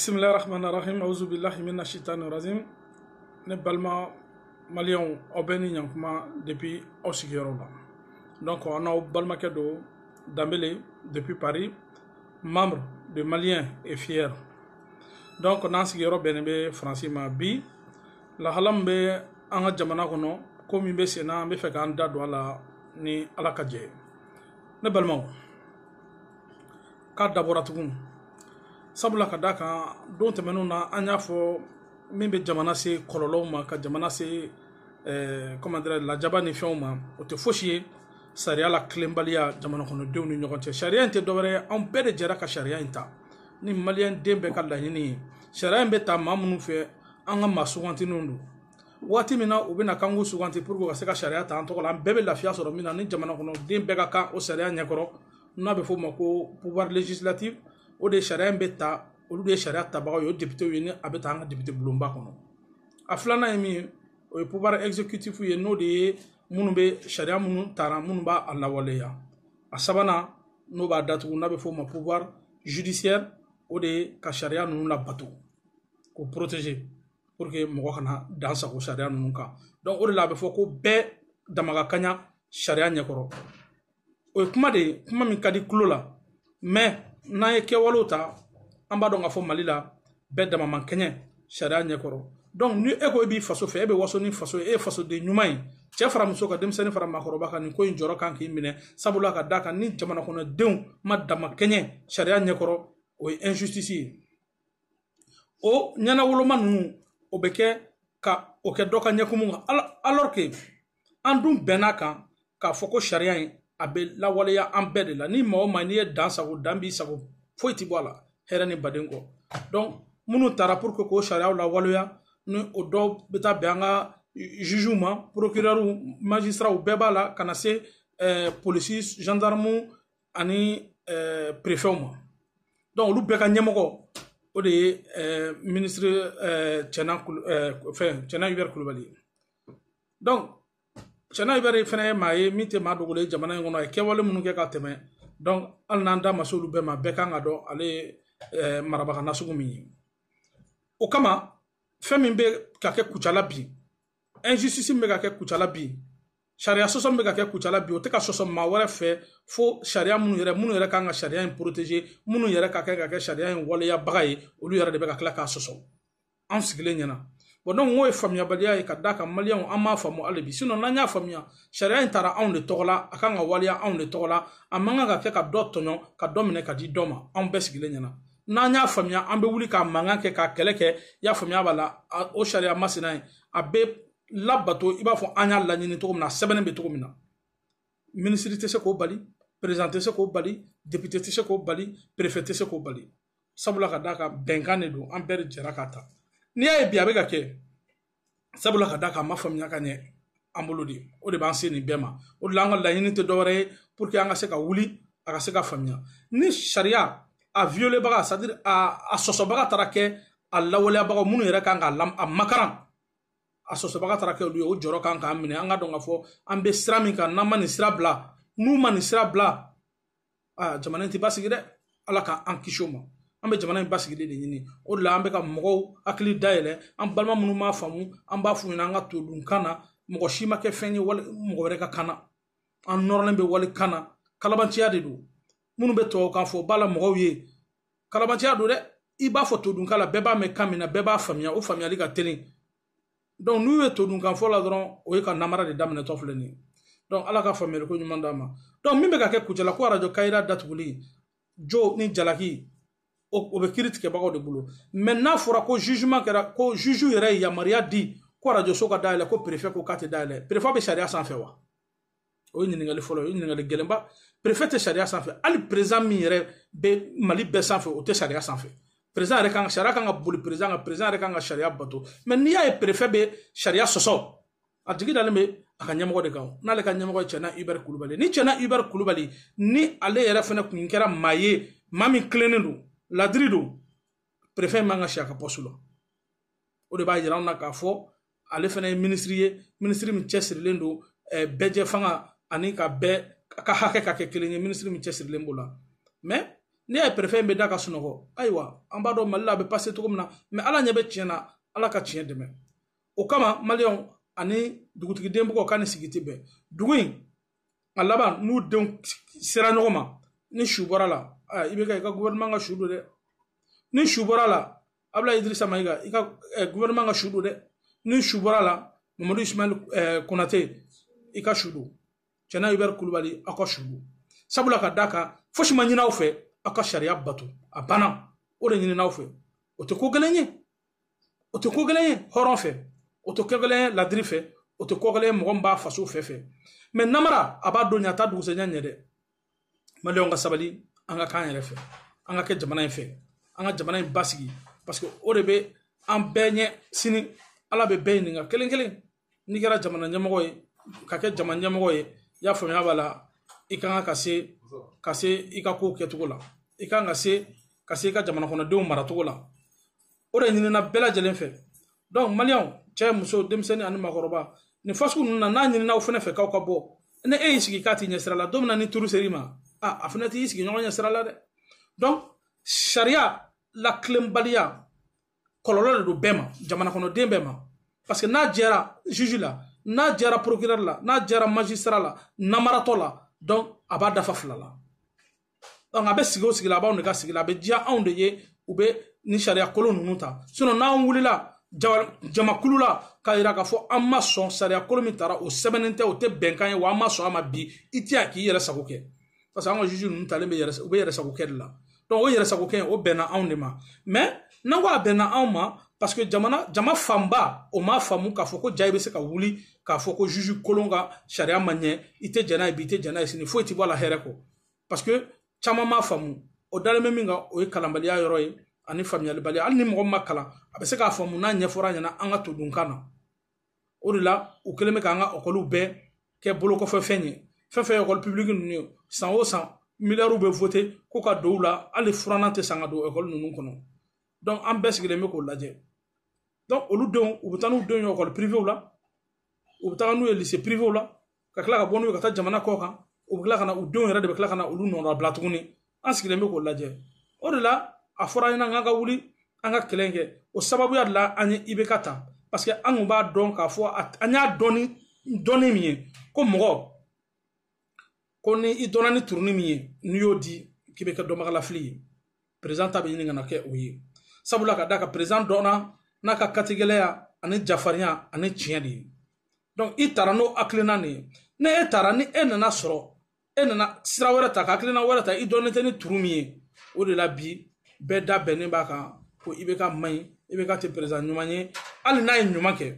bisimilahi rahman rahim awuzu bilahi mina shitani razim ne balima maliyɛnw aw bɛ ni ɲankuma depuis aw sigiyɔrɔ la donc an n'aw balimakɛ don danbele depuis paris membre de malien et fier donc n'an sigiyɔrɔ bɛnnen bɛ faransi ma bi lahala min bɛ an ka jamana kɔnɔ ko min bɛ sen na an bɛ fɛ k'an da don a la ni ala ka jɛ ye ne balimaw k'a dabɔra tugun sabula ka d'a kan don tɛmɛnenw na an y'a fɔ min bɛ jamana se kɔlɔlɔw ma ka jamana se eh, comment dirais lajaba ni fɛnw ma o tɛ fosi ye sariya latilenbaliya jamana kɔnɔdenw ni ɲɔgɔn cɛ sariya in tɛ dɔwɛrɛ ye anw bɛɛ de jɛra ka sariya in ta ni maliyɛnden bɛɛ ka laɲini ye sariya in bɛ ta maa minnu fɛ an ka maa sugantininw don waati min na u bɛnn'a kan k'u suganti pour que u ka se ka sariya ta an tɔgɔ la an bɛɛ bɛ lafiya sɔrɔ min na ni jamana kɔnɔ den bɛɛ ka kan o sariya ɲɛkɔrɔ n'a bɛ f'o ma ko pouvoir législatif o de sariya in bɛ ta olu de ye sariya tabagaw ye o depitew ye ni a bɛ ta an ka depite bulonba kɔnɔ a filanan ye min ye o ye pouvoir exécutif ye n'o de ye minnu bɛ sariya minnu tara minnu b'a lawaleya a sabanan n'o b'a datugu n'a bɛ f'o ma pouvoir judiciaire o de ye ka sariya ninnu labato k'u protéger pour que mɔgɔ kana dan sago sariya ninnu kan donc o de la a bɛ fɔ ko bɛɛ dama ka kaɲa sariya ɲɛkɔrɔ o ye kuma de ye kuma min ka di tulo la mais n'an ye kɛwalew ta an b'a dɔn k'a fɔ mali la bɛɛ dama man kɛɲɛ sariya ɲɛkɔrɔ donc ni e ko e b'i faso fɛ e bɛ waso ni faso ye e ye fasoden ɲuman ye cɛ fara muso kan denmisɛnnin fara maakɔrɔba kan nin ko in jɔrɔ kan k'i minɛ sabula ka d'a kan ni jamanakɔnɔdenw ma dama kɛɲɛ sariya ɲɛkɔrɔ o ye injustice ye o ɲɛnawoloma ninnu o bɛ kɛ ka o kɛ dɔ ka ɲɛkumu kan alors que an dun bɛnn'a kan k'a fɔ ko sariya in a bɛ lawaleya an bɛɛ de la ni maa o maa n'i ye dan sago dan b'i sago foyi tɛ bɔ a la hɛrɛ ni baden kɔ donc minnu tara pour que k'o sariyaw lawaleya ni o dɔw bɛ taa bɛn an ka jugew ma procureurw magistrats bɛɛ b'a la ka na se polisi gendarmew ani eh, perefɛw ma donc olu bɛɛ ka ɲɛmɔgɔ o de ye eh, ministre eh, cɛna fɛn cɛna hubert kulubali ye donc cɛna hubert fana ye maa ye min tɛ maa dogolen ye jamana in kɔnɔ a ye kɛwale minnu kɛ ka tɛmɛ donc hali n'an da ma se olu bɛɛ ma bɛɛ kan k'a dɔn ale ye marabaga nasugu min ye o kama fɛn min bɛ ka kɛ kucala bi injustice min bɛ ka kɛ kucala bi sariya sɔsɔ min bɛ ka kɛ kucala bi o tɛ ka sɔsɔ maa wɛrɛ fɛ fo sariya minnu yɛrɛ minnu yɛrɛ kan ka sariya in protéger minnu yɛrɛ ka kɛ ka kɛ sariya in waleyabaga ye olu yɛrɛ de bɛ ka tila k'a sɔsɔ an sigilen ɲɛna bon donc n'o ye faamuyabaliya ye ka d'a kan maliyɛnw an m'a faamu hali bi sinon n'an y'a faamuya sariya in tara anw de tɔgɔ la a kan ka waleya anw de tɔgɔ la a man kan ka kɛ ka dɔ tɔɲɔ ka dɔ minɛ ka di dɔ ma anw bɛɛ sigilen ɲɛna n'an y'a faamuya an bɛ wuli ka mankan kɛ ka kɛlɛ kɛ i y'a faamuya b'a la o sariya masina ye a bɛ labato i b'a fɔ an y'a laɲini cogo min na a sɛbɛnnen bɛ cogo min na minisiri tɛ se k'o bali perezan tɛ se k'o bali depite tɛ se k'o bali perefe tɛ se k'o bali sabula ka d'a kan bɛnkan de don an bɛɛ de jɛra k'a ta n'i y'a ye bi a bɛ ka kɛ sabula ka d'a kan a ma faamuya ka ɲɛ an bolo de o de b'an se nin bɛɛ ma o de la an ka laɲini tɛ dɔwɛrɛ ye pour que an ka se ka wuli a ka se ka faamuya ni sariya a violebaga c'est à dire a sɔsɔbaga taara kɛ a lawaleyabagaw minnu yɛrɛ kan k'a makaran a sɔsɔbaga taara kɛ olu ye o jɔrɔ kan k'an minɛ an k'a dɔn k'a fɔ an bɛ sira min kan n'an ma nin sira bila n'u ma nin sira bila aa jamana in tɛ basigi dɛ ala k'an kisi o ma an bɛ jamana in basigili de ɲini o de la an bɛ ka mɔgɔw hakili dayɛlɛ an balima minnu m'a faamu an b'a f'u ɲɛna an ka todunkan na mɔgɔ si ma kɛ fɛn ye wali mɔgɔ wɛrɛ ka kan na an nɔrɔlen bɛ walikan na kalabanciya de don minnu bɛ tubabukan fɔ b'a la mɔgɔw ye kalabanciya don dɛ i b'a fɔ todunkan la bɛɛ b'a mɛn kan min na bɛɛ b'a faamuya o faamuyali ka teli donc n'u ye todunkan fɔ la dɔrɔn o ye ka namara de daminɛtɔ filɛ nin ye donc ala ka faamuyali ko ɲuman d'an ma donc min bɛ ka kɛ kucala ko arajo kayira datuguli jo ni jalaki o bɛ kiritigɛbagaw de bolo mais n'a fɔra ko jugement kɛra ko juge yɛrɛ ye yamaruya di ko arajoso ka dayɛlɛ ko perefe ko k'a tɛ dayɛlɛ perefe bɛ sariya sanfɛ wa o ye ɲininkali fɔlɔ o ye ɲininkali gɛlɛnba perefe tɛ sariya sanfɛ hali perezan min yɛrɛ bɛ mali bɛɛ sanfɛ o tɛ sariya sanfɛ perezan yɛrɛ kan sariya kan ka boli perezan kan perezan yɛrɛ kan ka sariya bato mais n'i y'a ye perefe bɛ sariya sɔsɔ a jigi dalen bɛ a ka ɲɛmɔgɔ de kan n'ale ka ɲɛmɔgɔ ye cɛna ibɛri kulubali ni cɛna ibɛri kulubali ni ale yɛrɛ fana kun kɛra maa ye maa min tilennen don ladiri don perefe man ka si a ka pɔsu la o de b'a yira anw na k'a fɔ ale fana ye minisiri ye minisiri min cɛsirilen don eh, bɛɛjɛ fanga ani ka bɛɛ ka hakɛ ka kɛ kelen ye minisiri min cɛsirilen b'o la mais n'i y'a ye perefe in bɛ da ka sunɔgɔ ayiwa an b'a dɔn mali la a bɛ pase cogo min na mais ala ɲɛ bɛ tiɲɛ na ala ka tiɲɛ dɛmɛ o kama maliyɛnw ani dugutigiden bugɔ ka ni sigi tɛ bɛn dugu in a laban n'u denw sera ɲɔgɔn ma ni su bɔra la IBK i ka gɔvɛrɛnaman ka su don dɛ ni su bɔra la abulayi idirisa mayiga i ka gouvernement ka su don dɛ ni su bɔra la mamadu ismail konate i ka su don cɛna hubert kulubali aw ka su don sabula ka da kan fosi ma ɲin'aw fɛ aw ka sariya bato a banna o de ɲinin'aw fɛ o tɛ ko gɛlɛn ye o tɛ ko gɛlɛn ye hɔrɔn fɛ o tɛ ko gɛlɛn ye ladiri fɛ o tɛ ko gɛlɛn ye mɔgɔ min b'a faso fɛ fɛ mais namara a b'a don ɲɛ a t'a dugusɛjɛ ɲɛ dɛ maliyɛnw ka sabali an ka k'an yɛrɛ fɛ an ka kɛ jamana in fɛ an ka jamana in basigi parce que o de bɛ an bɛɛ ɲɛ sini ala bɛ bɛɛ ɲininka kelen kelen n'i kɛra jamana ɲɛmɔgɔ ye ka kɛ jamana ɲɛmɔgɔ ye i y'a faamuya b'a la i ka kan ka se ka se i ka kow kɛcogo la i ka kan ka se ka se i ka jamana kɔnɔdenw maracogo la o de ɲinina bɛɛ lajɛlen fɛ donc maliyɛnw cɛ muso denmisɛnnin ani makɔrɔba nin fasugu ninnu na n'a ɲinin'aw fɛnɛ fɛ k'aw ka bɔ ni e y'i sigi k'a t'i ɲɛsira la don min na ni turu ser'i ma a a fɛnɛ t'i sigiɲɔgɔn ɲɛsira la dɛ donc sariya latilenbaliya kɔlɔlɔ de don bɛɛ ma jamana kɔnɔden bɛɛ ma parce que n'a jɛra juge la n'a jɛra procureur la n'a jɛra magistrat la namaratɔ la donc a b'a dafa fila la donc a bɛ sigi o sigi la a b'anw de ka sigi la a bɛ diya anw de ye u bɛ nin sariya kolon ninnu ta sinɔn n'an wulila jamakulu la k'a yira k'a fɔ an ma sɔn sariya kolon min tara o sɛbɛnnen tɛ o tɛ bɛnkan ye wa an ma sɔn a ma bi i tɛ yan k'i yɛrɛ sago kɛ parce que an ka juge ninnu talen bɛ yɛrɛ u bɛ yɛrɛ sago kɛ de la donc o yɛrɛ sago kɛ o bɛnna anw de ma mais n'an ko a bɛnna anw ma parce que jamana jama fanba o m'a faamu k'a fɔ ko jaa i bɛ se ka wuli k'a fɔ ko juge kolon ka sariya ma ɲɛ i tɛ jɛn n'a ye bi i tɛ jɛn n'a ye sini foyi tɛ bɔ a la hɛrɛ kɔ parce que caman m'a faamu o dalen bɛ min kan o ye kalanbaliya yɔrɔ ye ani faamuyalibaliya hali ni mɔgɔ ma kalan a bɛ se k'a faamu n'a ɲɛfɔra ɲɛna an ka todunkan na o de la u kɛlen bɛ k'an ka ekɔliw bɛɛ kɛ bolokɔfɛfɛn ye fɛn fɛn ekɔli pibuliki ninnu ye san o san miliyariw bɛ vote ko ka don u la hali furannan tɛ san ka don ekɔli ninnu kɔnɔ donc an bɛɛ sigilen bɛ k'o lajɛ donc olu denw u bɛ taa n'u denw ye ekɔli pirivew la u bɛ taga n'u ye lise pirivew la ka tila ka bɔ n'u ye ka taa jamana kɔ kan u bɛ tila ka na u denw yɛrɛ de bɛ tila ka na olu nɔnɔbila tuguni an sigilen bɛ k'o lajɛ o de la a fɔra an ɲɛna k'an ka wuli an ka kɛlɛ kɛ o sababuya de la an ye ibeka ta parce que an kun b'a dɔn k'a fɔ an y'a dɔn ni dɔnni min ye ko mɔgɔ ko ni i dɔnna ni turuni min ye n'i y'o di k'i bɛ kɛ dɔnbagalafili ye perezan ta bɛ ɲini ka na kɛ o ye sabula ka d'a kan perezan dɔnna n'a ka katigɛlɛya ani jafarinya ani tiɲɛ de ye donc i taara n'o hakilina nin ye ni e taara ni e nana sɔrɔ e nana sira wɛrɛ ta ka hakilina wɛrɛ ta i dɔnnen tɛ ni turu min ye o de la bi bɛɛ da bɛnnen b'a kan ko ibeka man ɲi ibeka tɛ perezan ɲuman ye hali n'a ye ɲuman kɛ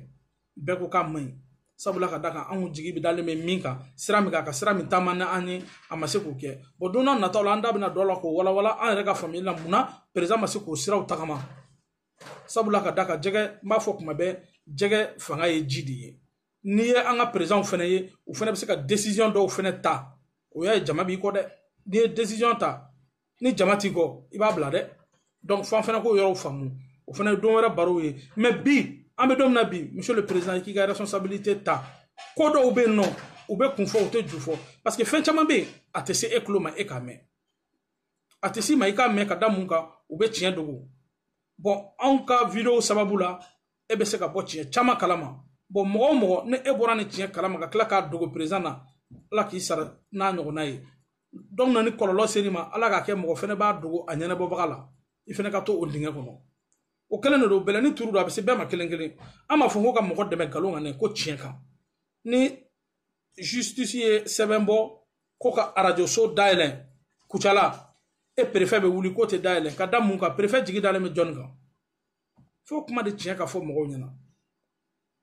bɛɛ ko k'a man ɲi sabula ka da kan anw jigi bɛ dalen bɛ min kan sira min kan ka sira min taama ni an ye a ma se k'o kɛ bon don na nataw la an da bɛna don a la k'o walawala an yɛrɛ ka faamuyali la mun na perezan ma se k'o siraw tagama sabula ka d'a kan jɛgɛ n b'a fɔ kuma bɛɛ jɛgɛ fanga ye ji de ye n'i ye an ka perezanw fana ye u fana bɛ se ka desiziyɔn dɔw fana ta o y'a ye jama b'i kɔ dɛ n'i ye desiziyɔn ta ni jama t'i kɔ i b'a bila dɛ donc f'an fana k'o yɔrɔw faamu o fana ye don wɛrɛ barow ye mais bi an bɛ don min na bi monsieur le président i k'i ka responsabilité ta ko dɔw bɛ yen nɔ u bɛ kun fɔ u tɛ ju fɔ parce que fɛn caman bɛ yen a tɛ se e tulo ma e k'a mɛn a tɛ s'i ma i k'a mɛn ka da mun kan u bɛ tiɲɛ dogo bon anw ka video sababu la e bɛ se ka bɔ tiɲɛ caman kalama bon mɔgɔ o mɔgɔ ni e bɔra nin tiɲɛ kalama ka tila k'a dogo perezan na ala k'i sara n'a ɲɔgɔnna ye donc n'a ni kɔlɔlɔ ser'i ma ala k'a kɛ mɔgɔ fɛnɛ b'a dogo a ɲɛnabɔbaga la i fɛnɛ ka to o dingɛ kɔnɔ o kelen de don bɛlɛni turu don a bɛ se bɛɛ ma kelen kelen an m'a fɔ ko ka mɔgɔ dɛmɛ nkalon kan dɛ ko tiɲɛ kan ni justice ye sɛbɛn bɔ ko ka arajo so dayɛlɛ kucala e perefɛ bɛ wuli k'o tɛ dayɛlɛ ka da mun kan perefɛ jigi dalen bɛ jɔnni kan fo kuma de tiɲɛ ka fɔ mɔgɔw ɲɛna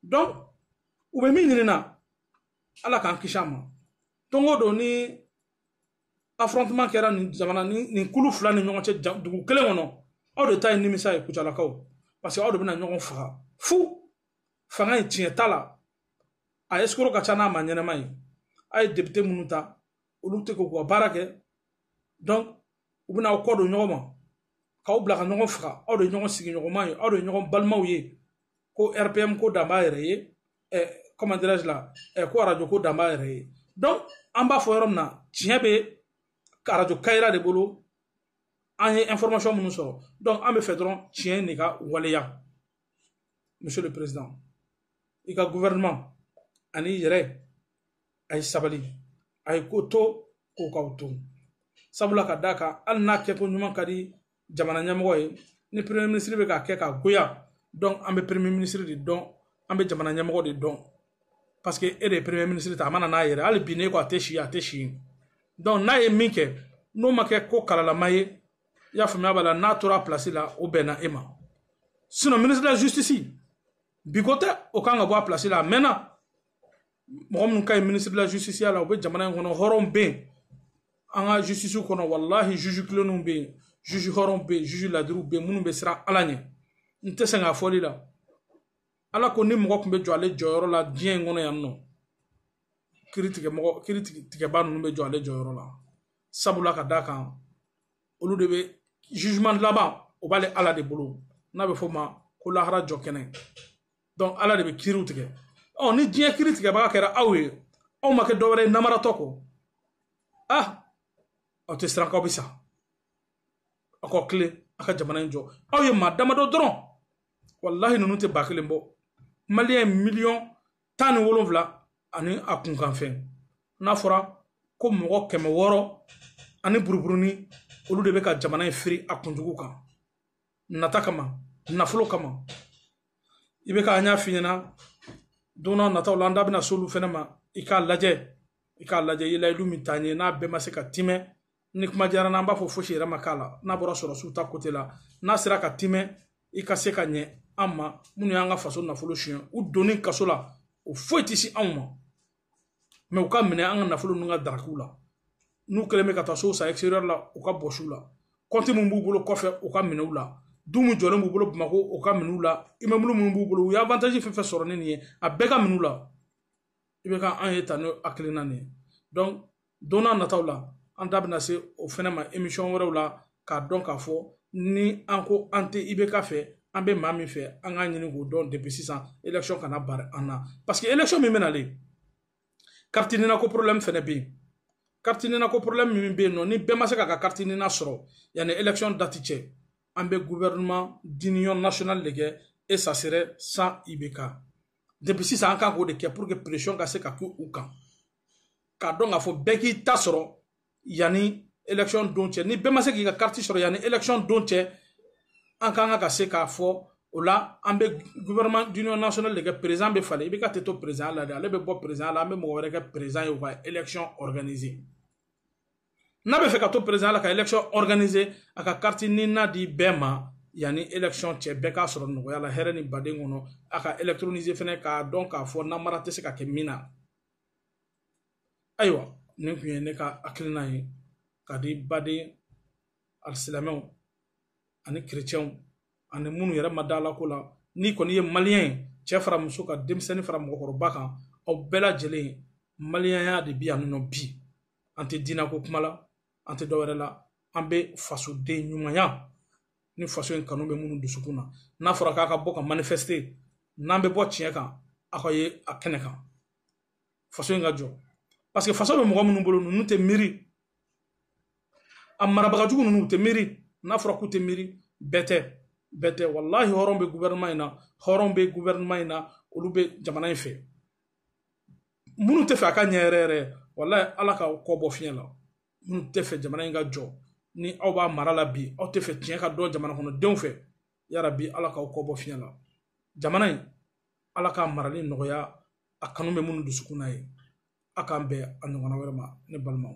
donc u bɛ min ɲinina ala k'an kisi a ma don o don ni affrontement kɛra nin jamana nin kulu fila ni ɲɔgɔn cɛ dugu kelen kɔnɔ aw de ta ye nimisa ye kucalakaw parce que aw de bɛna ɲɔgɔn faga fu fanga in tiɲɛ t'a la a escroc ka ca n'a maa ɲɛnama ye a ye depite minnu ta olu tɛ k'u ka baara kɛ donc u bɛna aw kɔ don ɲɔgɔn ma k'aw bila ka ɲɔgɔn faga aw de ye ɲɔgɔn sigiɲɔgɔnma ye aw de ye ɲɔgɔn balimaw ye ko rpm ko dan b'a yɛrɛ ye eh, comment dirais-je la eh, ko arajo ko dan b'a yɛrɛ ye donc an b'a fɔ yɔrɔ min na tiɲɛ bɛ arajo kayira de bolo an ye information minnu sɔrɔ donc an b'a fɛ dɔrɔn tiɲɛ de ka waleya monsieur le président i ka gouvernement an'i yɛrɛ a ye sabali a ye ko to ko k'aw to sabula ka d'a kan hali n'a kɛko ɲuman ka di jamana ɲɛmɔgɔ ye ni premier ministre bɛ k'a kɛ k'a goya donc an bɛ premier ministre de dɔn an bɛ jamana ɲɛmɔgɔ de dɔn parce que e de ye premier ministre ta a ma na n'a yɛrɛ hali bi n'e ko a tɛ si a tɛ si donc n'a ye min kɛ n'o ma kɛ ko kalalama ye i y'a faamuya b'a la n'a tora a place la o bɛnna e ma sinon ministre de la justice bi ko tɛ o kan ka bɔ a place la a mɛnna mɔgɔ minnu ka ɲi ministre de la justice ya la u bɛ jamana in kɔnɔ hɔrɔnw bɛ yen an ka justice kɔnɔ walahi juge tilennenw bɛ yen juge hɔrɔnw bɛ yen juge ladiriw bɛ yen minnu bɛ siran ala ɲɛ n tɛ sɛgɛn a fɔli la ala ko ni mɔgɔ tun bɛ jɔ ale jɔyɔrɔ la diɲɛ in kɔnɔ yan nɔ kiri tigɛ mɔgɔ kiri tigɛbaa ninnu bɛ jɔ ale jɔyɔrɔ la sabula ka d'a kan olu de bɛ jugement laban o b'ale ala de bolo n'a bɛ f'o ma ko lahara jɔ kɛnɛ donc ala de bɛ kiriw tigɛ ɔ ni diɲɛ kiri tigɛbaga kɛra aw ye aw ma kɛ dɔwɛrɛ ye namaratɔ kɔ ah aw tɛ siran k'aw bɛ sa aw ka tilen a ka jamana in jɔ aw ye maa damadɔ dɔrɔn walahi ninnu tɛ ba kelen bɔ maliyɛn miliyɔn tan ni wolonwula ani a kunkanfɛn n'a fɔra ko mɔgɔ kɛmɛ wɔɔrɔ ani buruburunin olu de bɛ ka jamana in firi a kunjugu kan nata kama nafolo kama IBK an y'a f'i ɲɛna don n'a nataw la an da bɛna s'olu fɛnɛ ma i k'a lajɛ i k'a lajɛ i ye layidu min t'an ye n'a bɛɛ ma se ka timɛ ni kuma diyara n'an b'a fɔ fosi yɛrɛ ma k'a la n'a bɔra sɔrɔdasiw ta côté la n'a sera ka timɛ i ka se ka ɲɛ an ma minnu y'an ka faso nafolo suyɛn u donni kaso la o foyi tɛ se anw ma mais u ka minɛ an ka nafolo ninnu ka daraki u la n'u kɛlen bɛ ka taa sow san extérieur la u ka bɔsi u la compte minnu b'u bolo kɔfɛ u ka minɛ u la du min jɔlen b'u bolo bamako u ka minɛ u la immeuble minnu b'u bolo u ye avantage fɛn fɛn sɔrɔ ni nin ye a bɛɛ ka minɛ u la IBK an ye ta n'o hakilina nin ye don n'a nataw la an da bɛna se o fɛnɛ ma émission wɛrɛw la k'a dɔn k'a fɔ ni an ko an tɛ IBK fɛ an bɛ maa min fɛ an k'a ɲini k'o dɔn depuis sisan élection kana bari an na parce que élection min bɛ nalen carte nina ko problème fɛnɛ bɛ yen carte nina ko problème min bɛ yen nɔ ni bɛɛ ma se k'a ka carte nina sɔrɔ yanni élection date cɛ an bɛ gouvernement d'union nationale de kɛ et ça serait sans IBK depuis sisan an kan k'o de kɛ pour que pression ka se ka k'u kan k'a dɔn k'a fɔ bɛɛ k'i ta sɔrɔ yanni élection don cɛ ni bɛɛ ma se k'i ka carte sɔrɔ yanni élection don cɛ an kan ka ka se k'a fɔ o la an bɛ gouvernement d'union nationale de kɛ président bɛ falen IBK tɛ to président la dɛ ale bɛ bɔ président la an bɛ mɔgɔ wɛrɛ kɛ président ye u ka élection organiser n'a bɛ fɛ ka to président la ka élection organiser a ka carte nina di bɛɛ ma yanni élection cɛ bɛɛ k'a sɔrɔ nɔgɔya la hɛrɛ ni baden kɔnɔ a ka électroniser fɛnɛ k'a dɔn k'a fɔ namara tɛ se ka kɛ min na ayiwa nin tun ye ne ka hakilina ye ka di baden alisilamɛw ani kerecɛnw ani minnu yɛrɛ ma d'ala ko la n'i kɔni ye maliyɛn ye cɛ fara muso kan denmisɛnnin fara mɔgɔkɔrɔba kan aw bɛɛ lajɛlen maliyɛnya de bi yan nɔ bi an tɛ diinɛ ko kuma la an tɛ dɔwɛrɛ la an bɛ fasoden ɲumanya ni faso in kanu bɛ minnu dusukun na n'a fɔra k'a ka bɔ ka manifester n'an bɛ bɔ tiɲɛ kan aw ka ye a kɛnɛ kan faso in ka jɔ parce que faso bɛ mɔgɔ minnu bolo ninnu tɛ miiri a marabagajugu ninnu u tɛ miiri n'a fɔra k'u tɛ miiri bɛɛ tɛ bɛɛ tɛ walahi hɔrɔn bɛ gouvernement in na hɔrɔn bɛ gouvernement in na olu bɛ jamana in fɛ minnu tɛ fɛ a ka ɲɛ yɛrɛ yɛrɛ walahi ala k'aw kɔ bɔ fiɲɛ la minnu tɛ fɛ jamana in ka jɔ ni aw b'a mara la bi aw tɛ fɛ tiɲɛ ka dɔn jamana kɔnɔdenw fɛ yarabi ala k'aw kɔ bɔ fiɲɛ la jamana in ala k'a marali nɔgɔya a kanu bɛ minnu dusukun na ye a k'an bɛn a ɲɔgɔnna wɛrɛ ma ne balimaw